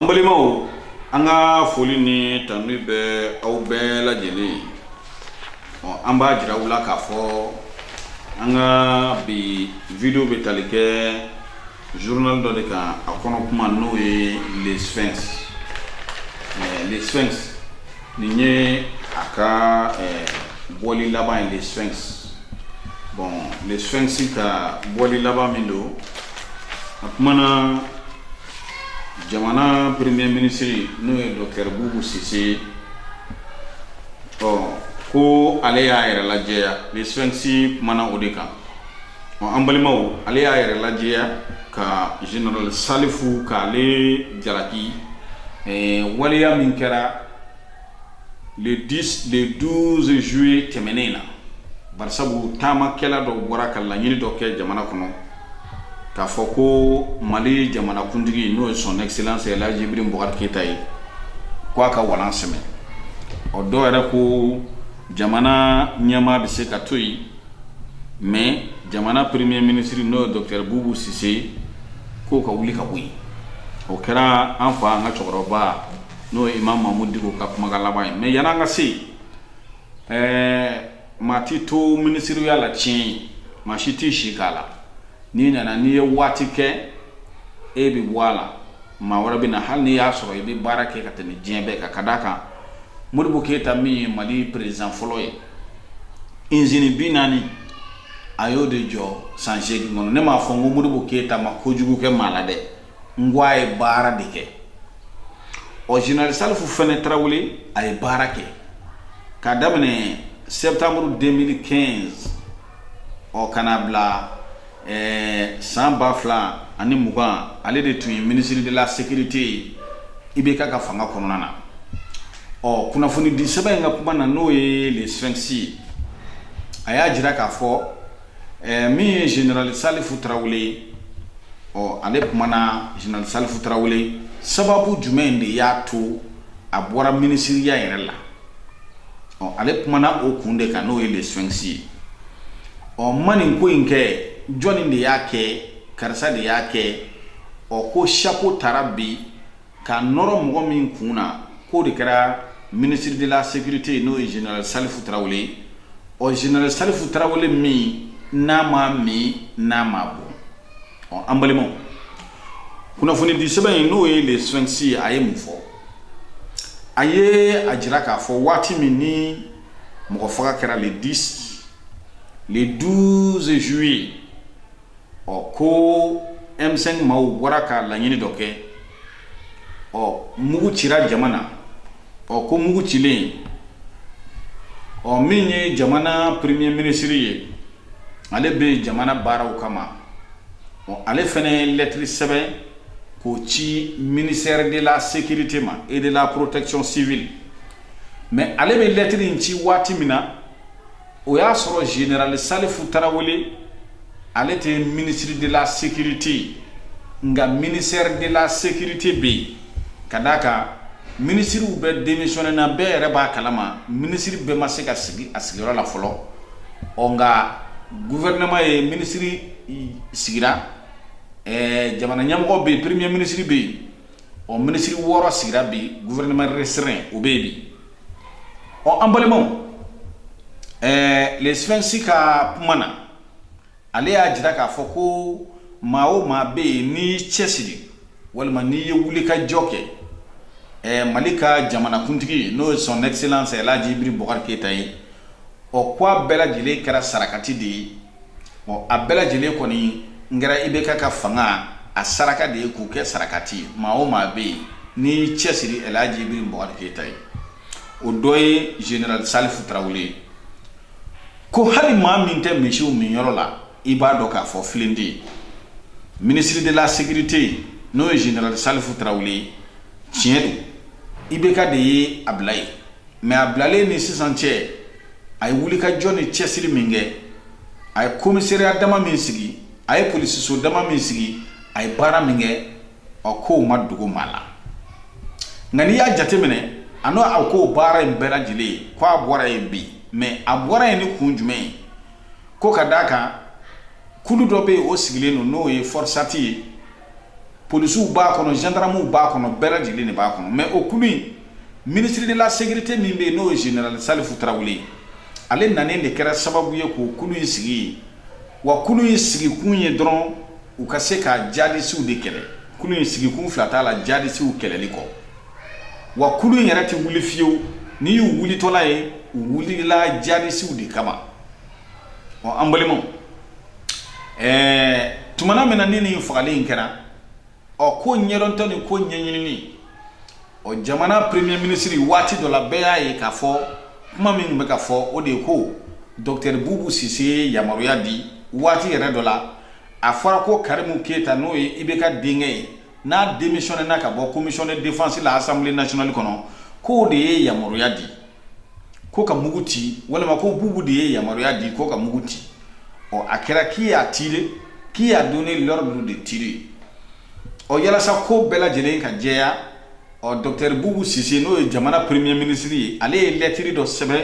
an balimaw an ka foli ni tanuni bɛ aw bɛɛ lajɛlen ye ɔ an b'a jira aw la k'a fɔ an ka bi video bɛ tali kɛ journal dɔ de kan a kɔnɔ kuma n'o ye le sphinx le sphinx nin ye a ka bɔli laban ye le sphinx bon le sphinx ka bɔli laban min don a kumana jamana premier ministre n'o ye docteur bubu sise ɔ ko ale y'a yɛrɛ lajɛya le sphinx kumana o de kan ɔ an balimaw ale y'a yɛrɛ lajɛya ka general salifu k'ale jalaki eh, waleya min kɛra le 10 le 12 juillet tɛmɛnen in na barisabu taamakɛla dɔw bɔra ka laɲini dɔ kɛ jamana kɔnɔ k'a fɔ ko mali jamanakuntigi n'o ye son excellence El Hadji Ibrahim Boubacar Keita ye k'a ka walan sɛmɛ ɔ dɔw yɛrɛ ko jamana ɲɛmaa bɛ se ka to yen mais jamana premier ministre n'o ye docteur Boubou Cisse k'o ka wuli ka bɔ yen o kɛra an fa an ka cɛkɔrɔba n'o ye imam Mahmoud Dicko ka kuma laban ye mais yanni an ka se ɛɛ maa t tɛ to minisiriya la tiɲɛ ye maa si t'i si k'a la n'i nana n'i ye waati kɛ e bɛ bɔ a la maa wɛrɛ bɛ na hali n'i y'a sɔrɔ i bɛ baara kɛ ka tɛmɛ diɲɛ bɛɛ kan ka d' a kan Modibo keyita min ye mali président fɔlɔ ye izini bi naani a y'o de jɔ san seegin kɔnɔ ne m'a fɔ n ko Modibo keyita ma kojugu kɛ maa la dɛ n ko a ye baara de kɛ ɔ général salifu fɛnɛ tarawele a ye baara kɛ k'a daminɛ septembre 2015 ɔ ka na bila eh, san ba fila ani mugan ale de tun ye ministre de la sécurité ye IBK ka fanga kɔnɔna na ɔ kunnafoni di sɛbɛn in ka kuma na n'o ye le sphinx a y'a jira k'a fɔ Ɛɛ min ye général salifu tarawele ye, ɔ ale kumana général salifu tarawele sababu jumɛn de y'a to a bɔra minisiriya yɛrɛ la, ɔ ale kumana o kun de kan n'o ye le sphinx ye, ɔ n ma nin ko in kɛ jɔni de y'a kɛ karisa de y'a kɛ, ɔ ko chapeau tara bi K'a nɔrɔ mɔgɔ min kun na k'o de kɛra ministre de la securite ye n'o ye général Salifu Tarawele ye, ɔ général Salifu Tarawele min n'a ma min n'a ma bɔ, ɔ an balimaw, kunnafonidi sɛbɛn in n'o ye le sphinx ye a ye mun fɔ? A ye a jira k'a fɔ waati min ni mɔgɔ faga kɛra le 10 le 12 juillet ɔ ko ɛmsɛnki maaw wara ka laɲini dɔ kɛ ɔ mugu cira jamana na ɔ ko mugu cilen ɔ min ye jamana premier minisiri ye ale bɛ jamana baaraw kama ɔ ale fana ye lɛtiri sɛbɛn k'o ci ministère de la sécurité ma et de la protection civile mɛ ale bɛ lɛtiri in ci waati min na o y'a sɔrɔ general salifu tarawele ale tɛ minisiri de la sécurité ye nka ministère de la sécurité bɛ yen ka d'a kan minisiriw bɛɛ demisiyɔnnena bɛɛ yɛrɛ b'a kalama minisiri bɛɛ ma se ka sigi a sigiyɔrɔ la fɔlɔ ɔ nka gouvernement ye minisiri sigira jamana ɲɛmɔgɔ bɛ yen premier minisiri bɛ yen ɔ minisiri wɔɔrɔ sigira bɛ gouvernement restreint o bɛ yen bi ɔ an balimaw ɛɛ Le Sphinx ka kuma na ale y'a jira k'a fɔ ko maa o maa bɛ yen n'i y'i cɛsiri walima n'i ye wuli ka jɔ kɛ ɛɛ mali ka jamanakuntigi n'o ye son excellence Elhaji Ibrahim Bubakari Keyita ye ɔ k'a bɛɛ lajɛlen kɛra sarakati de ye ɔ a bɛɛ lajɛlen kɔni kɛra IBK ka fanga a saraka de ye k'u kɛ sarakati ye maa o maa bɛ yen n'i cɛsiri Elhaji Ibrahim Bubakari Keyita ye o dɔ ye general salifu tarawele ye ko hali maa min tɛ misiw minyɔrɔ la i b'a dɔn k'a fɔ filen tɛ yen minisiri de la sécurité n'o ye general salifu tarawele ye tiɲɛ don IBK de ye a bila yen mɛ a bilalen ni sisan cɛ a ye wuli ka jɔ ni cɛsiri min kɛ a ye komisɛriya dama min sigi a ye polisiso dama min sigi a ye baara min kɛ ɔ k'o ma dogo maa la nka n'i y'a jateminɛ a n'o a k'o baara in bɛɛ lajɛlen ye ko a bɔra yen bi mɛ a bɔra yen ni kun jumɛn ye ko ka d'a kan kulu dɔ bɛ yen o sigilen don n'o ye fɔrisati ye polisiw b'a kɔnɔ zandaramuw b'a kɔnɔ bɛɛ lajɛlen de b'a kɔnɔ mɛ o kulu in minisiri de la sécurité min bɛ yen n'o ye general salifu tarawele ye ale nanen de kɛra sababu ye k'o kulu in sigi yen wa kulu in sigikun ye dɔrɔn u ka se ka jadisiw de kɛlɛ kulu in sigikun fila t'a la jadisiw kɛlɛli kɔ wa kulu in yɛrɛ tɛ wuli fiyewu n'i y'u wulitɔla ye u wulila jadisiw de kama ɔ an balimaw ɛɛ tuma min na ni nin fagali in kɛra ɔ ko ɲɛdɔntɔ ni ko ɲɛɲinini ɔ jamana premier minisiri waati dɔ la bɛɛ y'a ye k'a fɔ kuma min bɛ ka fɔ o de ye ko docteur bubu sise ye yamaruya di waati yɛrɛ dɔ la a fɔra ko karimu keyita n'o ye IBK denkɛ ye n'a demisiyɔnnena ka bɔ komisiyɔn de defansi la asanbile nasiyɔnali kɔnɔ k'o de ye yamaruya di ko ka mugu ci walima ko bubu de ye yamaruya di ko ka mugu ci ɔ a kɛra qui a tiré qui a donné l'ordre de tirer ɔ yalasa ko bɛɛ lajɛlen ka jɛya ɔ docteur bubu sise n'o ye jamana premier ministre ye ale ye lɛtiri dɔ sɛbɛn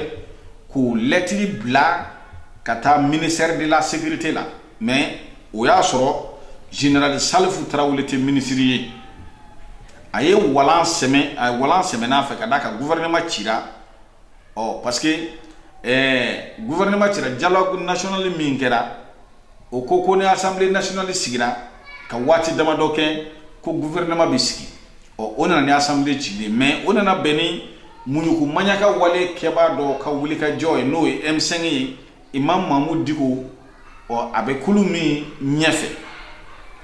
k'o lɛtiri bila ka taa ministère de la sécurité la mais o y'a sɔrɔ général salifu tarawele tɛ minisiri ye a ye walan sɛmɛn'a fɛ ka d'a kan gouvernement cira ɔ parce que ɛɛ gouvernement cira dialogue national min kɛra o ko ko ni assemblée nationale sigira ka waati damadɔ kɛ ko gouvernement bɛ sigi ɔ o nana ni assemblée cilen mais o nana bɛn ni muɲuku maɲaka wale kɛbaa dɔ ka wulikajɔ ye n'o ye M5 ye imam mamudu diko ɔ a bɛ kulu min ɲɛfɛ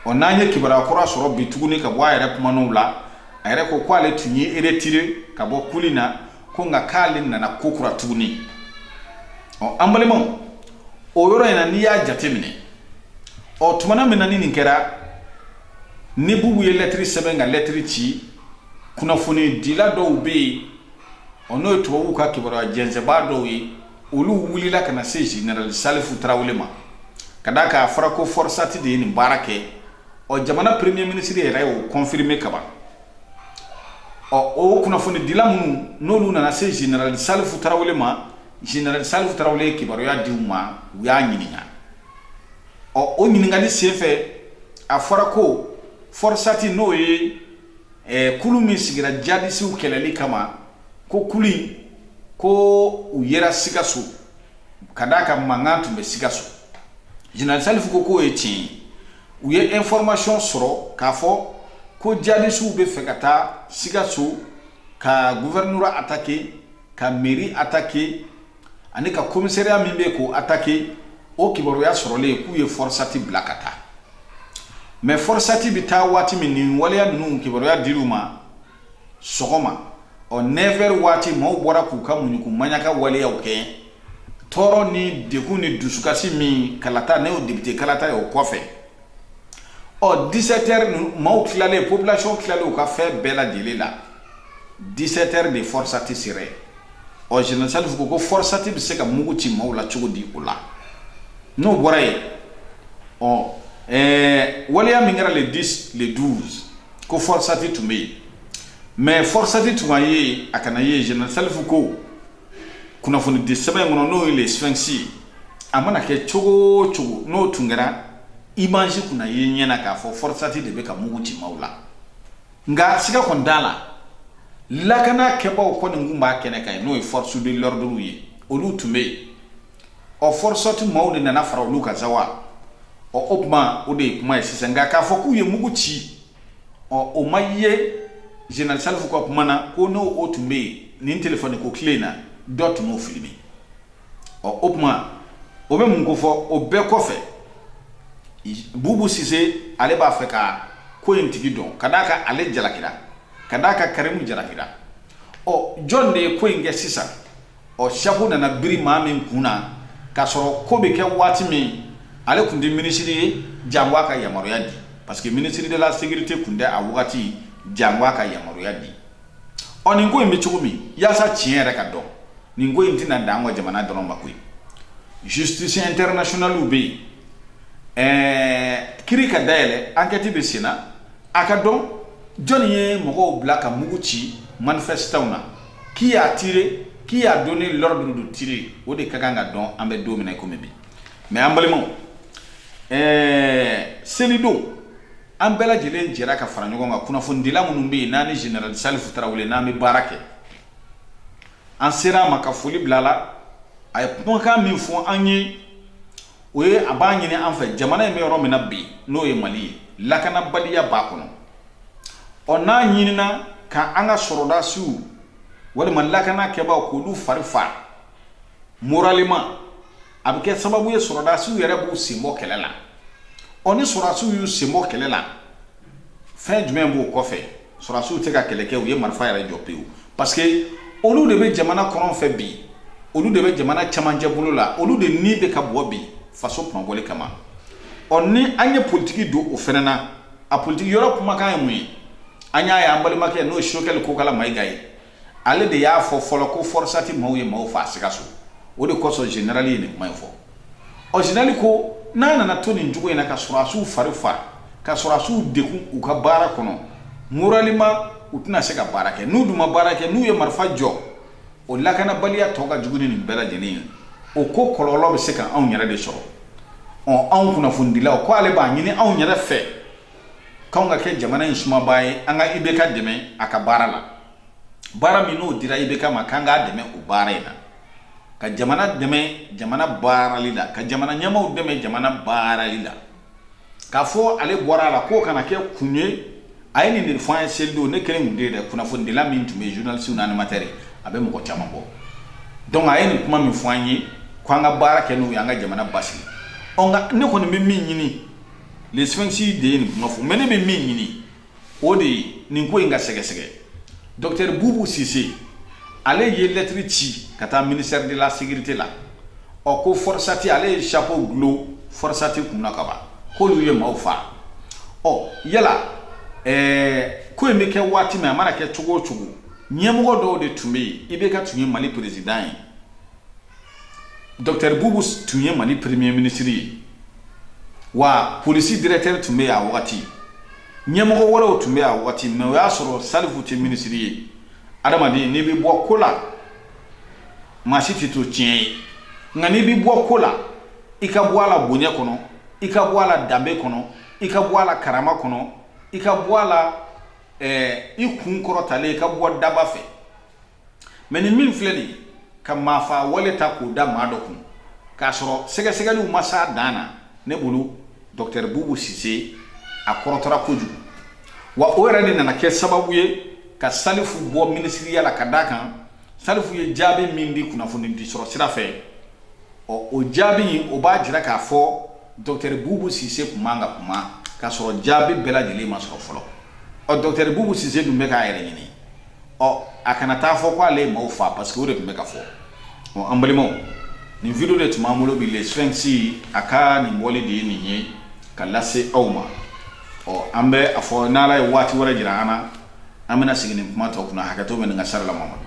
ɔ n'an ye kibaruya kura sɔrɔ bi tuguni ka bɔ a yɛrɛ kumanaw la a yɛrɛ ko k'ale tun y'i retirer ka bɔ kulu in na ko nka k'ale nana kokura tuguni ɔ an balimaw o yɔrɔ in na n'i y'a jate minɛ ɔ tumana min na ni nin kɛra ni bubu ye lɛtiri sɛbɛn ka lɛtiri ci kunnafonidila dɔw bɛ yen ɔ n'o ye tubabuw ka kibaruya jɛnsɛnbaa dɔw ye olu wulila ka na se général salifu tarawele ma ka d'a kan a fɔra ko forosati de ye nin baara kɛ ɔ jamana premier ministre yɛrɛ y'o confirmer kaban ɔ o kunnafonidila minnu n'olu nana se général salifu tarawele ma général salifu tarawele ye kibaruya di u ma u y'a ɲininka ɔ o ɲininkali senfɛ a fɔra ko forosati n'o ye Ɛɛ kulu min sigira jadisiw kɛlɛli kama ko kulu in ko u yera sikaso ka d'a kan mankan tun bɛ sikaso général salifu ko k'o ye tiɲɛ ye u ye information sɔrɔ k'a fɔ ko jadisiw bɛ fɛ ka taa sikaso ka gouvernorat attaquer ka mairie attaquer ani ka commissariat min bɛ k'o attaquer o kibaruya sɔrɔlen k'u ye fɔrisati bila ka taa mais fɔrisati bɛ taa waati min nin waleya ninnu kibaruya dir'u ma sɔgɔma ɔ 9 heures waati maaw bɔra k'u ka muɲuku maɲaka waleyaw kɛ tɔɔrɔ ni degun ni dusukasi min kalata ne y'o député kalata ye o kɔfɛ ɔ 17 heures maaw tilalen population tilalen u ka fɛn bɛɛ lajɛlen la 17 heures de fɔrisati sera ɔ général salifu ko fɔrisati bɛ se ka mugu ci maaw la cogo di o la n'o bɔra yen ɔ ɛɛ waleya min kɛra le 10 le 12 ko fɔrisati tun bɛ yen mais fɔrisati tun ye a kana ye général salifu ko kunnafonidisɛbɛn in kɔnɔ n'o ye le sphinx a mana kɛ cogo o cogo n'o tun kɛra image kun na ye ɲɛ na k'a fɔ fɔrisati de bɛ ka mugu ci maaw la nka siga kɔni t'a la lakana kɛbaaw kɔni tun b'a kɛnɛ kan yen n'o ye force de l'ordre ye olu tun bɛ yen ɔ Forsati maaw de nana fara olu kan sa wa ɔ o kuma o de ye kuma ye sisan nka k'a fɔ k'u ye mugu ci ɔ o ma ye général Salifu ka kuma na ko n'o o tun bɛ yen nin telefɔniko tile in na dɔ tun b'o filmer ɔ o kuma o bɛ mun kofɔ o bɛɛ kɔfɛ Bubu Sise ale b'a fɛ ka ko in tigi dɔn ka d'a kan ale jalakira ka d'a kan Karimu jalakira ɔ jɔn de ye ko in kɛ sisan ɔ chapeau nana biri maa min kun na k'a sɔrɔ ko bɛ kɛ waati min ale tun tɛ minisiri ye jango a ka yamaruya di parce que ministre de la sécurité tun tɛ a wagati jango a ka yamaruya di ɔ nin ko in bɛ cogo min yaasa tiɲɛ yɛrɛ ka dɔn nin ko in tɛna dan an ka jamana dɔrɔn ma koyi justice internationale bɛ yen ɛɛ kiri ka dayɛlɛ enquête bɛ senna a ka dɔn jɔni ye mɔgɔw bila ka mugu ci manifestants na qui a tiré qui a donné l'ordre de tirer o de ka kan ka dɔn an bɛ don min na komi bi mais an balimaw ɛɛ selidon an bɛɛ lajɛlen jɛra ka fara ɲɔgɔn kan kunnafonidila minnu bɛ yen n'an ni général Salifu Tarawele n'an bɛ baara kɛ an sera a ma ka foli bila a la a ye kumakan min fɔ an ye o ye a b'a ɲini an fɛ jamana in bɛ yɔrɔ min na bi n'o ye Mali ye lakanabaliya b'a kɔnɔ ɔ n'a ɲinina ka an ka sɔrɔdasiw walima lakana kɛbaaw k'olu fari faa moralement a bɛ kɛ sababu ye sɔrɔdasiw yɛrɛ b'u sen bɔ kɛlɛ la ɔ ni sɔrɔdasiw y'u sen bɔ kɛlɛ la fɛn jumɛn b'o kɔfɛ sɔrɔdasiw tɛ ka kɛlɛ kɛ u ye marifa yɛrɛ jɔ pewu parce que olu de bɛ jamana kɔrɔn fɛ bi olu de bɛ jamana camancɛ bolo la olu de ni bɛ ka bɔ bi faso kunmabɔli kama ɔ ni an ye politigi don o fana na a politigi yɔrɔ kumakan ye mun ye an y'a ye an balimakɛ n'o ye Sogɛli Kokala Mayiga ye Ale de y'a fɔ fɔlɔ ko forosati maaw ye maaw faa Sikaso o de kosɔn général ye nin kuma in fɔ ɔ général ko n'a nana to nin cogo in na ka sɔrɔdasiw fari faa ka sɔrɔdasiw degun u ka baara kɔnɔ moralement u tɛna se ka baara kɛ n'u dun ma baara kɛ n'u ye marifa jɔ o lakanabaliya tɔ ka jugu ni nin bɛɛ lajɛlen ye o ko kɔlɔlɔ bɛ se ka anw yɛrɛ de sɔrɔ ɔ anw kunnafonidilaw ko ale b'a ɲini anw yɛrɛ fɛ k'anw ka kɛ jamana in sumabaa ye an ka IBK dɛmɛ a ka baara la baara min n'o dira IBK ma k'an k'a dɛmɛ o baara in na ka jamana dɛmɛ jamana baarali la ka jamana ɲɛmaaw dɛmɛ jamana baarali la k'a fɔ ale bɔra a la k'o kana kɛ kun ye a ye nin de fɔ an ye selidon ne kelen tun tɛ yen dɛ kunnafonidila min tun bɛ journaliste ni animateur ye a bɛ mɔgɔ caman bɔ donc a ye nin kuma min fɔ an ye k'an ka baara kɛ n'o ye an ka jamana basigi ɔ nka ne kɔni bɛ min ɲini sfɛnsi de ye nin kuma fɔ mɛ ne bɛ min ɲini o de ye nin ko in ka sɛgɛsɛgɛ dɔktɛri bubu sise ale ye lɛtiri ci ka taa ministère de la sécurité la ɔ ko Forsati ale ye chapeau glo Forsati kun na kaban k'olu ye maaw faa ɔ yala ɛɛ ko in bɛ kɛ waati min a mana kɛ cogo o cogo ɲɛmɔgɔ dɔw de tun bɛ yen IBK tun ye mali peresidan ye Dɔkitɛri bubu tun ye mali peremiye minisiri ye wa polisi dirɛkitɛri tun bɛ yen a wagati ɲɛmɔgɔ wɛrɛw tun bɛ yen a wagati mɛ o y'a sɔrɔ salifu tɛ minisiri ye adamaden n'i bɛ bɔ ko la maa si tɛ to tiɲɛ ye nka n'i bɛ bɔ ko la i ka bɔ a la bonya kɔnɔ i ka bɔ a la danbe kɔnɔ i ka bɔ a la karama kɔnɔ i ka bɔ a la i kun kɔrɔtalen i ka bɔ daba fɛ mɛ ni min filɛ nin ka maafa wale ta k'o da maa dɔ kun k'a sɔrɔ sɛgɛsɛgɛliw ma s'a dan na ne bolo dɔktɛri bubu sise a kɔrɔtɔra kojugu wa o yɛrɛ de nana kɛ sababu ye ka salifu bɔ minisiriya la ka d'a kan salifu ye jaabi min di kunnafoni di sɔrɔ sira fɛ ɔ o jaabi o b'a jira k'a fɔ dɔktɛri bubu sise tun man ka kuma k'a sɔrɔ jaabi bɛɛ lajɛlen ma sɔrɔ fɔlɔ ɔ dɔktɛri bubu sise dun bɛ k'a yɛrɛ ɲini ɔ a kana taa fɔ ko ale ye maaw faa parce que o de tun bɛ ka fɔ an balimaw nin video de tun b'an bolo bi le sfɛnsi a ka nin bɔli de ye nin ye ka lase aw ma ɔ an bɛ a fɔ n'ala ye waati wɛrɛ jira an na an bɛna segin nin kuma tɔ kunna hakɛto bɛ nin ka sari la mamadu